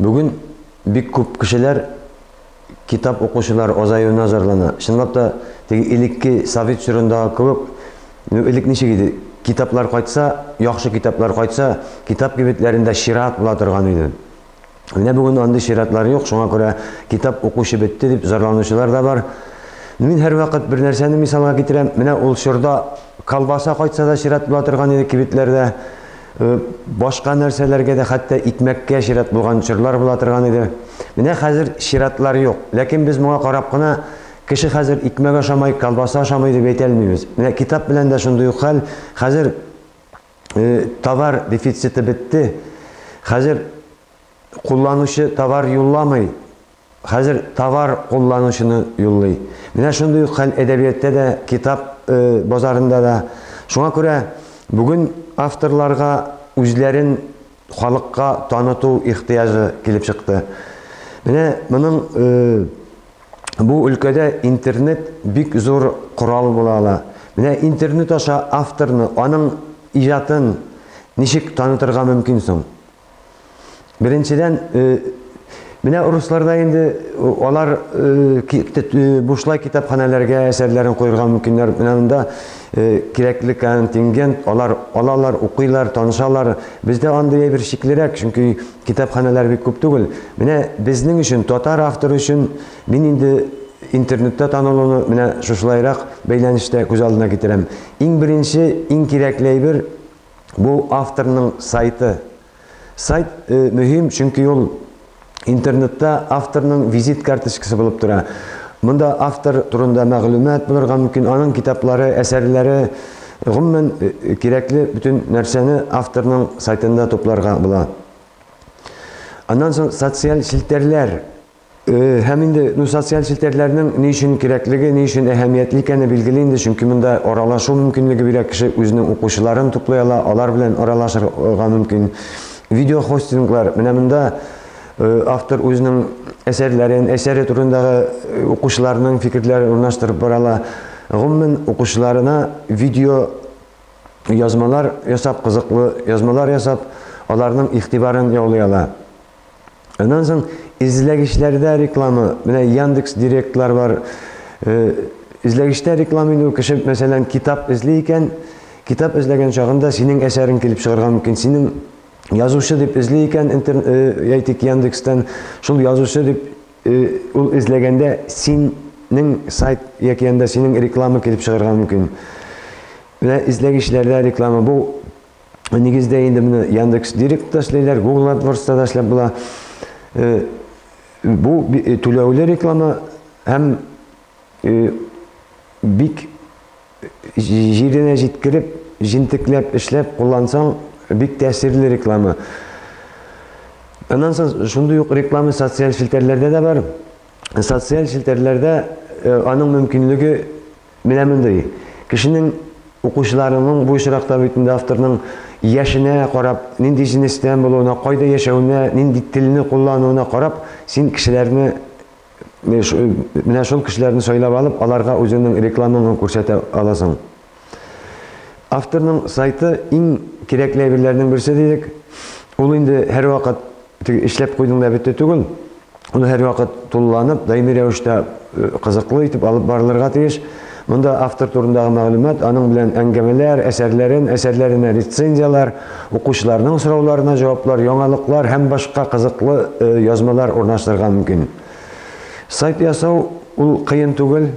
Бүген бик күп кешеләр китап укучылар азаюына зарлана. Чынлап та, теге элекке совет чорындагы кебек, ну, элек ничек иде, китаплар кайтса, яхшы китаплар кайтса, китап кибетләрендә чират була торган иде. Менә бүген андый чиратлар юк, шуңа күрә китап укучы бетте дип зарланучылар да бар. Мин һәрвакыт бер нәрсәне мисалга китерәм, менә ул чорда колбаса кайтса да чират була торган иде кибетләрдә. Башка нәрсәләргә дә, хәтта икмәккә чират булган чорлар була торган иде. Менә хәзер чиратлар юк. Ләкин без моңа карап кына, кеше хәзер икмәк ашамый, колбаса ашамый дип әйтә алмыйбыз. Менә китап белән дә шундый ук хәл. Хәзер товар дефициты бетте. Хәзер кулланучы товар юлламый. Хәзер товар кулланучыны юллый. Менә шундый ук хәл әдәбияттә дә, китап базарында да. Шуңа күрә бүген авторларга үзләрен халыкка таныту ихтыяҗы килеп чыкты. Менә моның бу өлкәдә интернет бик зур корал була ала. Менә интернет аша авторны, аның иҗатын ничек танытырга мөмкин соң? Беренчедән, менә урысларда инде алар бушлай китапханәләргә әсәрләрен куерга мөмкиннәр. Менә монда кирәкле контингент, алар алалар, укыйлар, танышалар. Бездә андый әйбер шиклерәк, чөнки китапханәләр бик күп түгел. Менә безнең өчен, татар авторы өчен мин инде интернетта танылуны менә шушылайрак бәйләнештә күз алдына китерәм. Иң беренче, иң кирәкле әйбер, Бу авторның сайты. Сайт мөһим, чөнки ул интернетта авторның визит карточкасы булып тора. Монда автор турында мәгълүмат булырга мөмкин, аның китаплары, әсәрләре, гомумән, кирәкле бөтен нәрсәне авторның сайтында тупларга була. Аннан соң социаль челтәрләр. Һәм инде ну, социаль челтәрләрнең ни өчен кирәклеге, ни өчен әһәмиятле икәне билгеле инде, чөнки монда аралашу мөмкинлеге бирә, кеше үзенең укучыларын туплый ала, алар белән аралашырга мөмкин. Видеохостинглар, менә монда автор үзенең әсәрләрен, әсәре турындагы укучыларның фикерләрен урнаштырып бара ала. Гомумән, укучыларына видео язмалар ясап, кызыклы язмалар ясап, аларның игътибарын яулый ала. Аннан соң эзләгечләрдә реклама, менә Яндекс Директлар бар. Эзләгештә реклама инде кеше, мәсәлән, китап эзли икән, китап эзләгән чагында синең әсәрең килеп чыгарга мөмкин. Синең язучы дип эзли икән, әйтик, Яндекстан, шул язучы дип ул эзләгәндә синең сайт яки анда синең реклама килеп чыгарга мөмкин. Менә эзләгечләрдә реклама бу Нигездә инде менә Яндекс Директ та эшләйләр, Google AdWords да эшләп була. Э, бу э, түләүле реклама һәм э, бик җиренә җиткереп, җентекләп эшләп куллансаң, бик тәэсирле реклама. Аннан соң шундый ук реклама социаль челтәрләрдә дә бар. Социаль челтәрләрдә аның мөмкинлеге Менә мондый, кешенең, укучыларының бу очракта бит инде авторның яшенә карап, нинди җенестән булуына, кайда яшәвенә, нинди телне куллануына карап, син кешеләрне, менә шул кешеләрне сайлап алып, аларга үзеңнең рекламаңны күрсәтә аласың. Авторның сайты, иң кирәкле әйберләрнең берсе дидек. Ул инде һәрвакыт. Теге эшләп куйдың да бетте түгел. Ул һәрвакыт тулыланып, даими рәвештә э, кызыклы итеп алып барылырга тиеш. Монда автор турындагы мәгълүмат, аның белән әңгәмәләр, әсәрләрен, әсәрләренә рецензияләр, укучыларның сорауларына җаваплар, яңалыклар һәм башка кызыклы э, язмалар урнаштырырга мөмкин. Сайт ясау ул кыен түгел,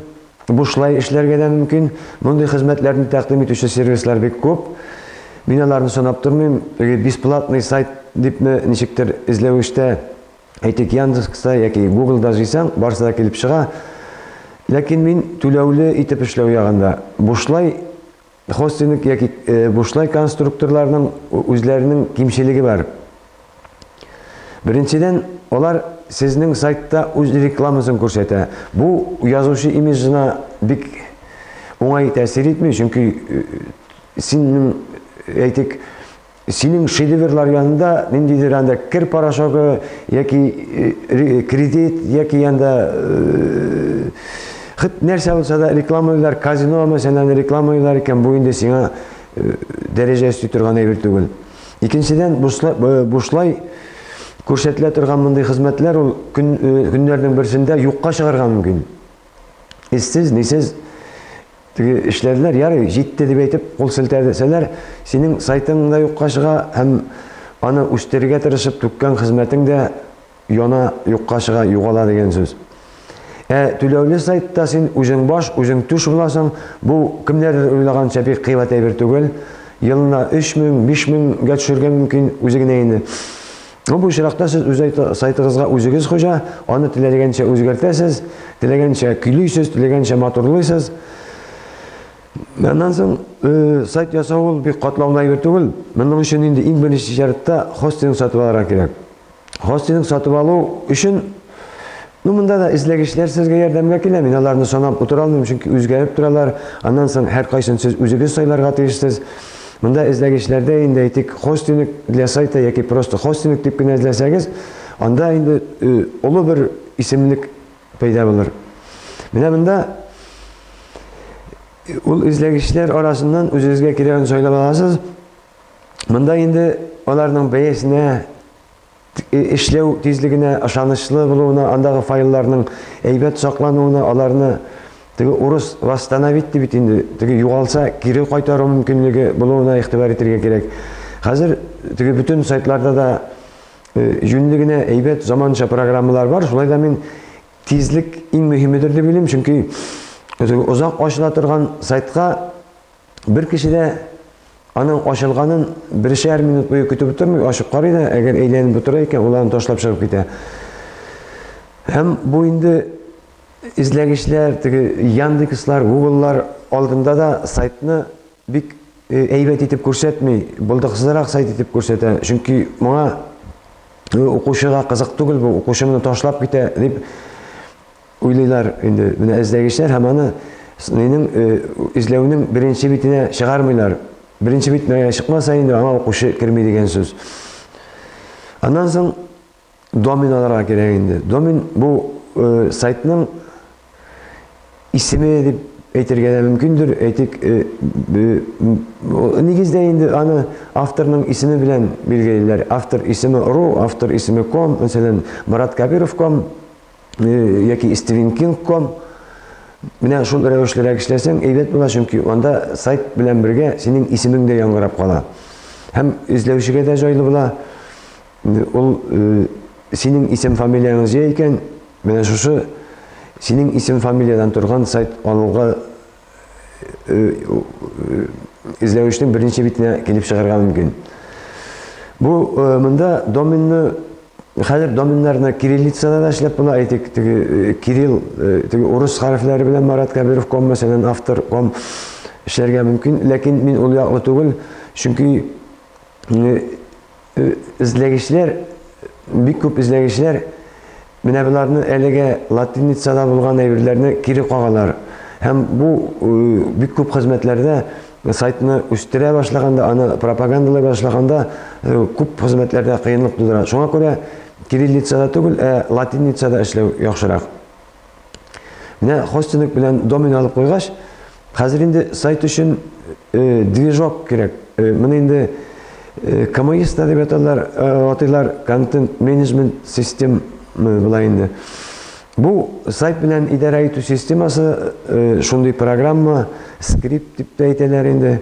Бушлай эшләргә дә мөмкин. Мондый хезмәтләрне тәкъдим итүче сервислар бик күп. Мин аларны санап тормыйм. Теге бесплатный сайт дипме, ничектер эзләвештә, әйтик, Яндекста яки Гуглда җыйсаң, барысы да килеп чыга. Ләкин мин түләүле итеп эшләү ягында. Бушлай Хостинг яки бушлай конструкторларның үзләренең кимчелеге бар. Беренчедән, алар сезнең сайтта үз рекламасын күрсәтә. Бу язучы имиджына бик уңай тәэсир итми, чөнки синең, әйтик, Синең шедеврлар янында ниндидер анда кер порошогы яки э, э, кредит яки анда э, хит нәрсә булса да рекламалар, казино мәсәлән рекламалар икән, бу инде сиңа дәрәҗә өсти торган әйбер түгел. Икенчедән, бушлай күрсәтелә торган мондый хезмәтләр ул көннәрнең берсендә юкка чыгарга мөмкин. Иссез, нисез Теге эшләделәр, ярый, җитте дип әйтеп кул селтәдесәләр, синең сайтың да юкка чыга һәм аны үстерергә тырышып түккән хезмәтең дә яна, юкка чыга, югала дигән сүз. Ә түләүле сайтта син үзең баш, үзең түш буласың, бу кемнәрдер уйлаганча бик кыйбат әйбер түгел, елына өч мең, биш меңгә төшәргә мөмкин, үзе генә инде Ну, бу очракта сез үз сайтыгызга үзегез хуҗа, аны теләгәнчә үзгәртәсез, теләгәнчә көйлисез, теләгәнчә матурлыйсыз. Аннан соң э, сайт ясау ул бик катлаулы әйбер түгел. Моның өчен инде иң беренче шартта хостинг сатып алырга кирәк. Хостинг сатып алу өчен Ну, монда да эзләгечләр сезгә ярдәмгә килә. Мин аларны санап утыра алмыйм, чөнки үзгәреп торалар. Аннан соң һәр кайсын сез үзегез сайларга тиешсез. Монда эзләгечләрдә инде әйтик, хостинг для сайта яки просто хостинг дип кенә эзләсәгез, анда инде олы бер исемлек пәйда булыр. Менә монда ул эзләгечләр арасыннан үзегезгә кирәген сайлап аласыз. Монда инде аларның бәясенә эшләү тизлегенә, ышанычлы булуына, андагы файлларның әйбәт саклануына, аларны теге урыс восстановить ди бит инде, теге югалса, кире кайтару мөмкинлеге булуына игътибар итәргә кирәк. Хәзер теге бөтен сайтларда да җүнле генә әйбәт заманча программалар бар. Шулай да мин тизлек иң мөһимедер дип уйлыйм, чөнки озак ачыла торган сайтка Бер кеше дә аның ачылганын бершәр минут буе көтеп утырмый, ачып карый да, әгәр әйләнеп утыра икән, ул аны ташлап чыгып китә. Һәм бу инде эзләгечләр, теге Яндекслар, Гугллар алдында да сайтны бик э, әйбәт итеп күрсәтми, булдыксызрак сайт итеп күрсәтә. Чөнки моңа э, укучыга кызык түгел бу, укучы моны ташлап китә дип Уйлыйлар инде, менә эзләгечләр һәм аны СНИның эзләүнең беренче битенә чыгармыйлар. Беренче бит мәгәр чыкмаса инде аңа укучы керми дигән сүз. Аннан соң домен алырга кирәк инде. Домен бу сайтның исеме дип әйтергә дә мөмкиндер, әйтик, нигездә инде аны авторның исеме белән билгелиләр. Автор исеме ру, автор исеме ком, мәсәлән, Марат Кабиров ком, яки stringking.com Менә шул рәвешлерәк эшләсәң, әйбәт була, чөнки анда сайт белән бергә синең исемең дә яңгырап кала. Һәм эзләүчегә дә җайлы була. Ул э, синең исем фамилияң җәй икән, менә шушы синең исем фамилиядан торган сайт алуга эзләвечнең берничә битенә килеп чыгарга мөмкин. Бу монда доменны хәзер доменнарны кириллицада да эшләп була, әйтик, теге кирилл, теге урыс хәрефләре белән Марат Кәбиров ком мәсәлән автор ком эшләргә мөмкин, ләкин мин ул яклы түгел, чөнки Эзләгечләр, бик күп эзләгечләр менә боларны әлегә латиницада булган әйберләрне кире кагалар. Һәм бу бик күп хезмәтләрдә сайтны үстерә башлаганда, аны пропагандалай башлаганда күп хезмәтләрдә кыенлык тудыра. Шуңа күрә кириллицада түгел, ә латиницада эшләү яхшырак. Менә хостинг белән домен алып куйгач, хәзер инде сайт өчен э, движок кирәк. Э, моны инде э, КМИСта дип аталар, э, атыйлар контент менеджмент систем э, була инде. Бу сайт белән идарә итү системасы э, шундый программа, скрипт дип тә әйтәләр инде.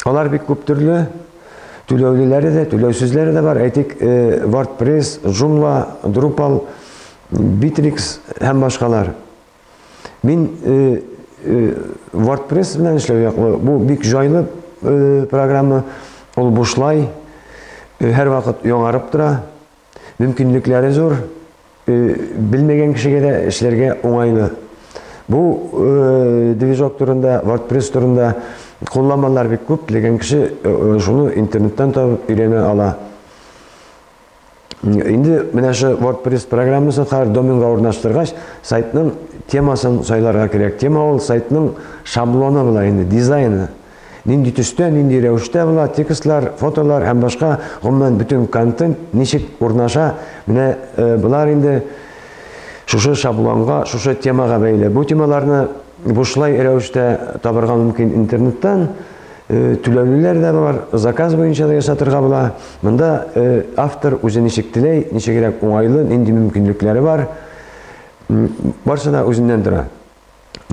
Алар бик күп төрле түләүлеләре дә, түләүсезләре дә бар. Әйтик, э, WordPress, Joomla, Drupal, Битрикс һәм башкалар. Мин WordPress белән эшләү яклы. Бу бик җайлы программа. Ул бушлай, һәр вакыт яңарып тора. Мөмкинлекләре зур. Белмәгән кешегә дә эшләргә уңайлы. Бу движок турында, WordPress турында кулланмалар бик күп. Теләгән кеше шуны интернеттан табып өйрәнә ала. Инде менә шу WordPress программасын хәзер доменга урнаштыргач, сайтның темасын сайларга кирәк. Тема ул сайтның шаблоны була инде, дизайны. Нинди төстә, нинди рәвештә була, текстлар, фотолар һәм башка гомумән бөтен контент ничек урнаша, менә э, болар инде шушы шаблонга, шушы темага бәйле. Бу темаларны бушлай рәвештә табырга мөмкин интернеттан. Э, түләүлеләр дә бар, заказ буенча да ясатырга була. Монда э, автор үзе ничек теләй, ничегрәк уңайлы, нинди мөмкинлекләре бар, барсы да үзеннән тора.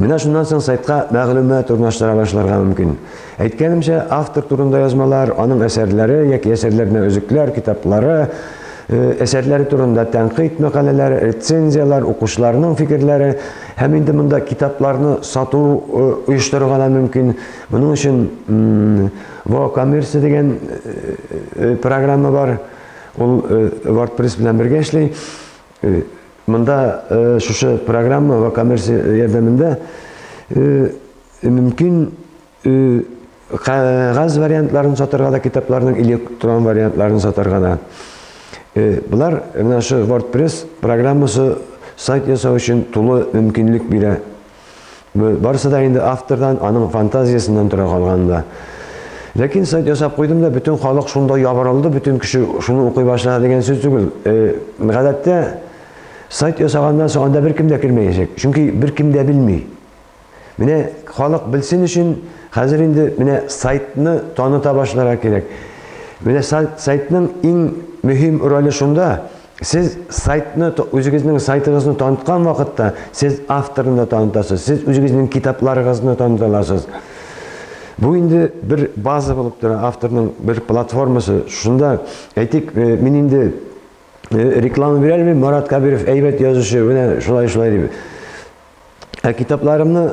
Менә шуннан соң сайтка мәгълүмат урнаштыра башларга мөмкин. Әйткәнемчә, автор турында язмалар, аның әсәрләре яки әсәрләренә өзекләр, китаплары, э, әсәрләре турында тәнкыйть мәкаләләре, рецензияләр, укучыларның фикерләре һәм инде монда китапларны сату оештырырга да мөмкин. Моның өчен VoCommerce дигән программа бар. Ул WordPress белән бергә эшли. Монда шушы программа VoCommerce ярдәмендә мөмкин кәгазь вариантларын сатырга да, китапларның электрон вариантларын сатырга да. Болар менә шу WordPress программасы сайт ясау өчен тулы мөмкинлек бирә. Барысы да инде автордан, аның фантазиясеннән тора калган да. Ләкин сайт ясап куйдым да, бөтен халык шунда ябырылды, бөтен кеше шуны укый башлады дигән сүз түгел. Э, гадәттә сайт ясаганнан соң анда беркем дә кермәячәк, чөнки беркем дә белми. Менә халык белсен өчен хәзер инде менә сайтны таныта башларга кирәк. Менә сайтның иң мөһим роле шунда, Сез сайтны, үзегезнең сайтыгызны таныткан вакытта, сез авторны да танытасыз, сез үзегезнең китапларыгызны таныта аласыз. Бу инде бер база булып тора, авторның бер платформасы. Шунда, әйтик, э, мин инде э, реклама бирә алмыйм, Марат Кабиров әйбәт язучы, менә шулай-шулай дип. Ә китапларымны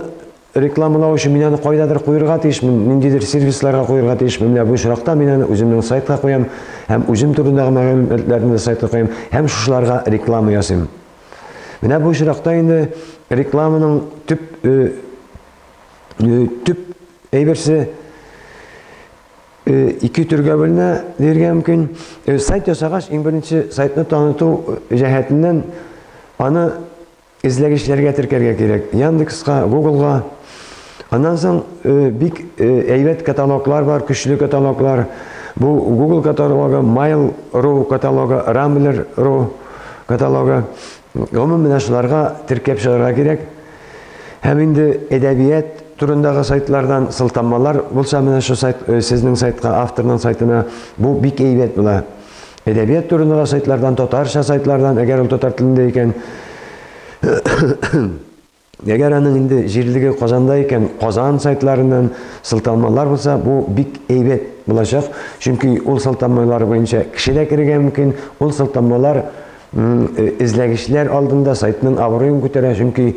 Рекламалау өчен мин аны кайдадыр куерга тиешмен, ниндидер сервисларга куерга тиешмен. Менә бу очракта мин аны үземнең сайтка куям һәм үзем турындагы мәгълүматларны да сайтка куям һәм шушыларга реклама ясыйм. Менә бу очракта инде рекламаның төп төп әйберсе ике төргә бүленә диергә мөмкин. Сайт ясагач, иң беренче сайтны таныту җәһәтеннән аны Эзләгечләргә теркәргә кирәк. Яндекска, Гуглга. Аннан соң э, бик э, әйбәт каталоглар бар, көчле каталоглар. Бу Google каталогы, Mail.ru каталогы, Rambler.ru каталогы. Гомумән менә шуларга теркәп чыгарга кирәк. Һәм инде әдәбият турындагы сайтлардан сылтамалар булса менә шу сайт э, сезнең сайтка, авторның сайтына бу бик әйбәт була. Әдәбият турындагы сайтлардан, татарча сайтлардан, әгәр ул татар телендә икән, әгәр аның инде җирлеге Казанда икән, Казан сайтларыннан сылтамалар булса, бу бик әйбәт булачак. Чөнки ул сылтамалар буенча кеше дә керергә мөмкин, ул сылтамалар эзләгечләр алдында сайтның абруен күтәрә, чөнки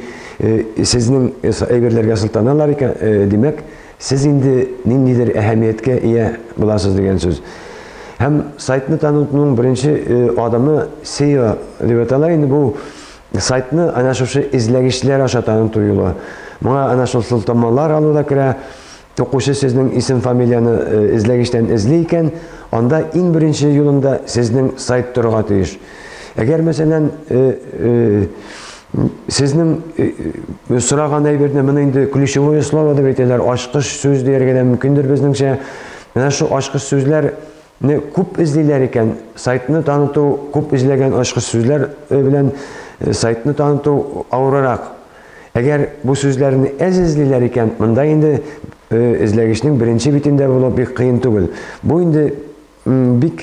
сезнең әйберләргә сылтаналар икән, димәк, Сез инде ниндидер әһәмияткә ия буласыз дигән сүз. Һәм сайтны танытуның беренче э, адымы SEO дип атала инде бу сайтны ана шушы эзләгечләр аша таныту юлы. Моңа ана шул сылтамалар алу да керә. Укучы сезнең исем-фамилияне э, эзләгечтән эзли икән, анда иң беренче юлында сезнең сайт торырга тиеш. Әгәр мәсәлән, э, э, Сезнең сораган әйберне моны инде ключевое слово дип әйтәләр, ачкыч сүз дияргә дә мөмкиндер безнеңчә. Менә шул ачкыч сүзләрне күп эзлиләр икән. Сайтны таныту күп эзләгән ачкыч сүзләр э, белән э, сайтны таныту авырырак. Әгәр бу сүзләрне әз эзлиләр икән, монда инде э, эзләгечнең беренче битендә булу бик кыен түгел. Бу инде Бик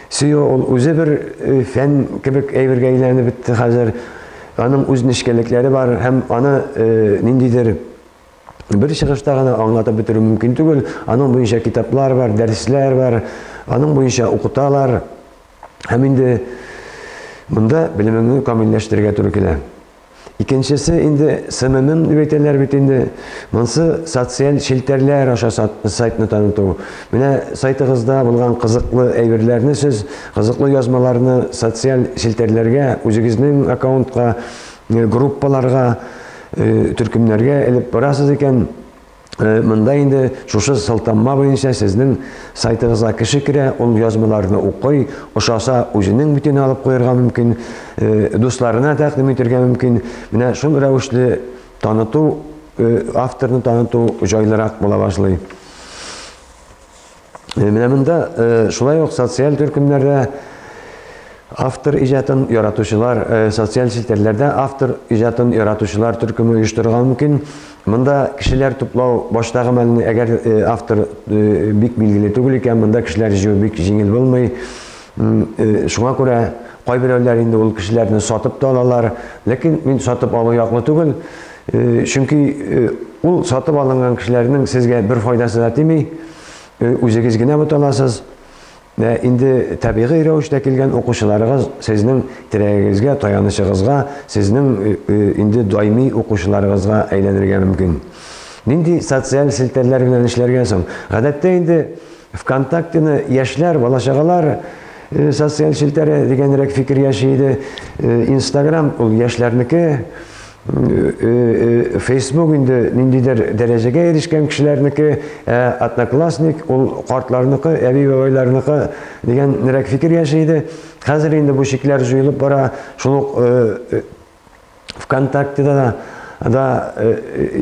сөю ул үзе бер э, фән кебек әйбергә әйләнеп бетте хәзер. Аның үз нечкәлекләре бар һәм аны э, ниндидер бер чыгышта гына аңлатып бетерү мөмкин түгел. Аның буенча китаплар бар, дәресләр бар, аның буенча укыталар. Һәм инде монда белемеңне камилләштерергә туры килә. Икенчесе инде СММ дип әйтәләр бит инде. Монсы социаль челтәрләр аша сайтны таныту. Менә сайтыгызда булган кызыклы әйберләрне сез, кызыклы язмаларны социаль челтәрләргә, үзегезнең аккаунтка, группаларга, төркемнәргә элеп барасыз икән. Э, Монда инде шушы сылтамма буенча сезнең сайтыгызга кеше керә, ул язмаларны укый, ошаса үзенең битен алып куярга мөмкин, э, дусларына тәкъдим итергә мөмкин. Менә шул рәвешле таныту, э, авторны таныту җайлырак була башлый. Э, менә монда э, шулай ук социаль төркемнәрдә автор иҗатын яратучылар э, социаль челтәрләрдә автор иҗатын яратучылар төркеме оештырырга мөмкин монда кешеләр туплау баштагы мәлне әгәр автор бик билгеле түгел икән монда кешеләр җыю бик җиңел булмый шуңа күрә кайберәүләр инде ул кешеләрне сатып та алалар ләкин мин сатып алу яклы түгел Э, чөнки э, ул сатып алынган кешеләрнең сезгә бер файдасы да тими э, үзегез генә буталасыз инде табигый рәвештә килгән укучыларыгыз сезнең терәгегезгә таянычыгызга сезнең инде даими укучыларыгызга әйләнергә мөмкин нинди социаль селтәрләр белән эшләргә соң гадәттә инде Вконтактены яшьләр, бала-чагалар э, социаль челтәре дигәнрәк фикер яши иде. Э, Инстаграм ул яшьләрнеке. Э, Фейсбук инде ниндидер дәрәҗәгә ирешкән кешеләрнеке, ә Одноклассник ул картларныкы, әби бабайларныкы дигәнрәк фикер яши иде. Хәзер инде бу чикләр җуелып бара. Шул ук ВКонтакте да да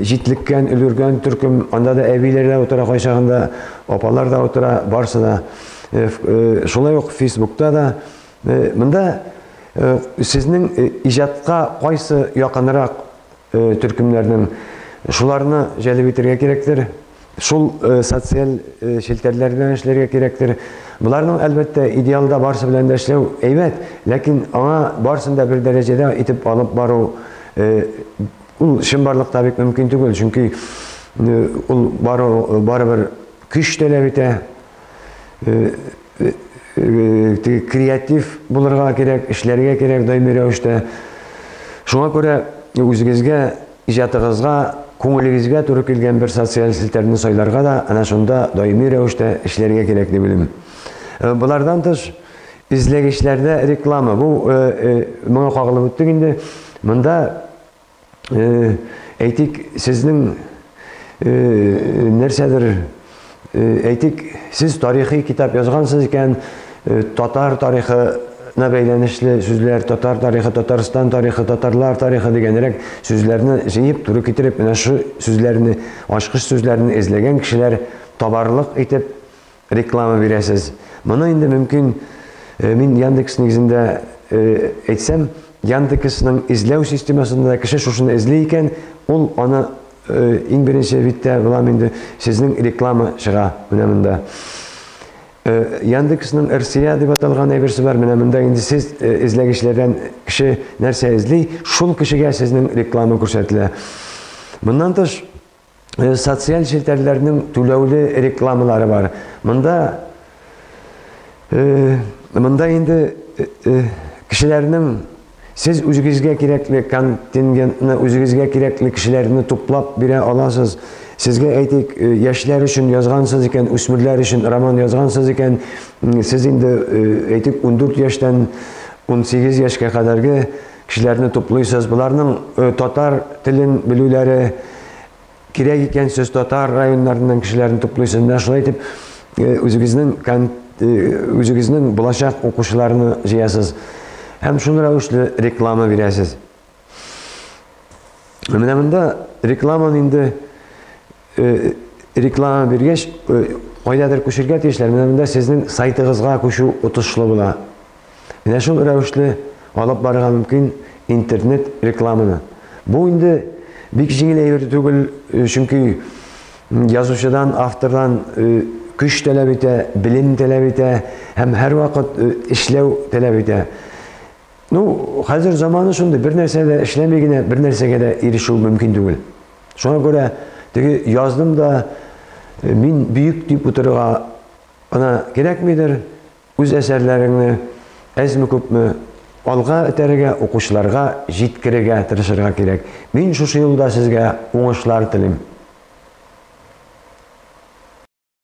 җитлеккән, өлгергән төркем, анда да әбиләр дә утыра кайчагында, апалар да утыра, барсы да. Шулай ук Фейсбукта да. Монда сезнең иҗатка кайсы якынрак төркемнәрнең шуларны җәлеп итәргә кирәктер, Шул социаль челтәрләр белән эшләргә кирәктер. Боларның, әлбәттә, идеалда барсы белән дә эшләү әйбәт, ләкин аңа барсын да бер дәрәҗәдә итеп алып бару ул чынбарлыкта бик мөмкин түгел, чөнки ул барыбер көч таләп итә, креатив булырга кирәк, эшләргә кирәк даими рәвештә. Шуңа күрә үзегезгә, иҗатыгызга, күңелегезгә туры килгән бер социаль селтәрне сайларга да, әнә шунда даими рәвештә эшләргә кирәк дип уйлыйм. Болардан тыш, эзләгечләрдә реклама, бу моңа кагылып үттек инде. Монда әйтик, сезнең нәрсәдер әйтик, сез тарихи китап язгансыз икән, татар тарихы на бәйләнешле сүзләр, татар тарихы, Татарстан тарихы, татарлар тарихы дигәнрәк сүзләрне җыеп, туры китереп, менә шу сүзләрне, ачкыч сүзләрне эзләгән кешеләр табарлык итеп реклама бирәсез. Моны инде мөмкин э, мин Яндекс нигезендә э, әйтсәм, Яндексның эзләү системасында кеше шушыны эзли икән, ул аны э, иң беренче биттә була инде сезнең реклама чыга менә монда. Яндексның РСЯ дип аталган әйберсе бар. Менә монда инде сез эзләгечләрдән кеше нәрсә эзли, шул кешегә сезнең реклама күрсәтелә. Моннан тыш э, социаль челтәрләрнең түләүле рекламалары бар. Монда э, монда инде э, кешеләрнең сез үзегезгә кирәкле контингентны, үзегезгә кирәкле кешеләрне туплап бирә аласыз. Сезгә әйтик, яшьләр өчен язгансыз икән, үсмерләр өчен роман язгансыз икән, сез инде әйтик 14 яшьтән 18 яшькә кадәрге Кешеләрне туплыйсыз, боларның э, татар телен белүләре кирәк икән, сез татар районнарыннан кешеләрне туплыйсыз. Менә шулай итеп э, үзегезнең э, үзегезнең булачак укучыларны җыясыз. Һәм шул рәвешле реклама бирәсез. Менә монда рекламаны инде реклама биргәч, кайдадыр күчергә тиешләр. Менә монда сезнең сайтыгызга күчү отышлы була. Менә шул рәвешле алып барырга мөмкин интернет рекламаны. Бу инде бик җиңел әйбер түгел, чөнки язучыдан, автордан көч таләп итә, белем таләп итә һәм һәрвакыт эшләү таләп итә. Ну, хәзер заманы шундый, бер нәрсә дә эшләми генә бер нәрсәгә дә ирешү мөмкин түгел. Шуңа күрә теге яздым да мин бөек дип утырырга гына кирәкмидер, үз әсәрләреңне әзме-күпме алга этәрергә, укучыларга җиткерергә тырышырга кирәк. Мин шушы юлда сезгә уңышлар телим.